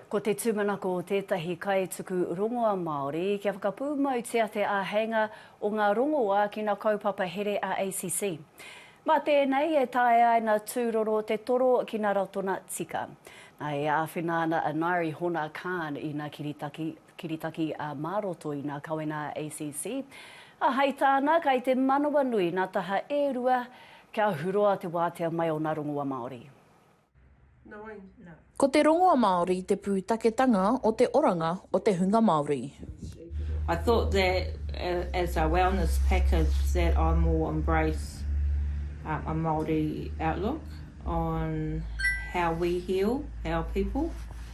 Ko te tūmanako o tētahi kaituku rongoa Māori kia whakapūmautia te āheinga o ngā rongoā ki ngā kaupapa here a ACC. Mā tēnei e taea ai ngā tūroro te toro ki ngā ratona tika. Nā, e āwhina ana a Ngaire Hona Khan i ngā kiritaki, kiritaki ā, mā roto i ngā kawenga a ACC, ā, hai tāna, kai te manawanui ngā taha e rua kia huroa te wātea mai o ngā rongoā Māori. Ko te rongoa Māori te pūtaketanga o te oranga o te hunga Māori. I thought that as a wellness package that I more embrace a Māori outlook on how we heal our people.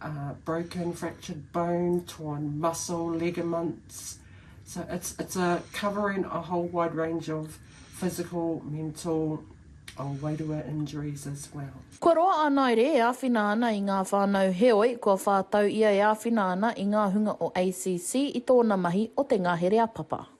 uh, broken, fractured bone, torn muscle, ligaments. So it's, it's a covering a whole wide range of physical, mental, or oh, wairua injuries as well. Kua roa a Naere e āwhina ana i ngā whānau heoi, kua whā tau ia e āwhina ana i ngā hunga o ACC i tōna mahi o te ngahere a Papa.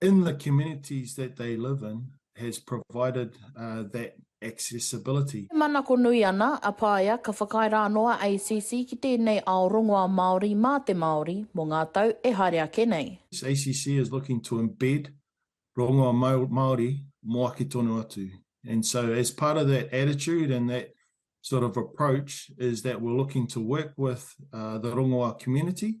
In the communities that they live in has provided that accessibility. E manako nui ana a Paea ka whakaae rā noa a ACC ki tēnei ao rongoā Māori mā te Māori mō ngā tau e haere ake nei. ACC is looking to embed rongoā Māori mō ake tonu atu and so as part of that attitude and that sort of approach is that we're looking to work with the rongoā community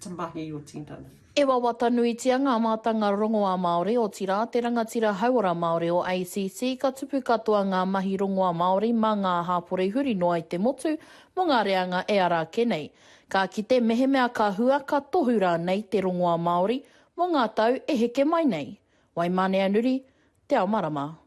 to mahi your tendon. E wawata nuitia ngā mātanga rongoā Māori, otirā, te rangatira hauora Māori o ACC, ka tupu katoa ngā mahi rongoā Māori mā ngā hāpori huri noa i te motu mō ngā reanga e ara ake nei. Ka kite mehemea ka hua, ka tohu rānei te rongoā Māori mō ngā tau e heke mai nei. Waimaneanuri, Te Ao Marama.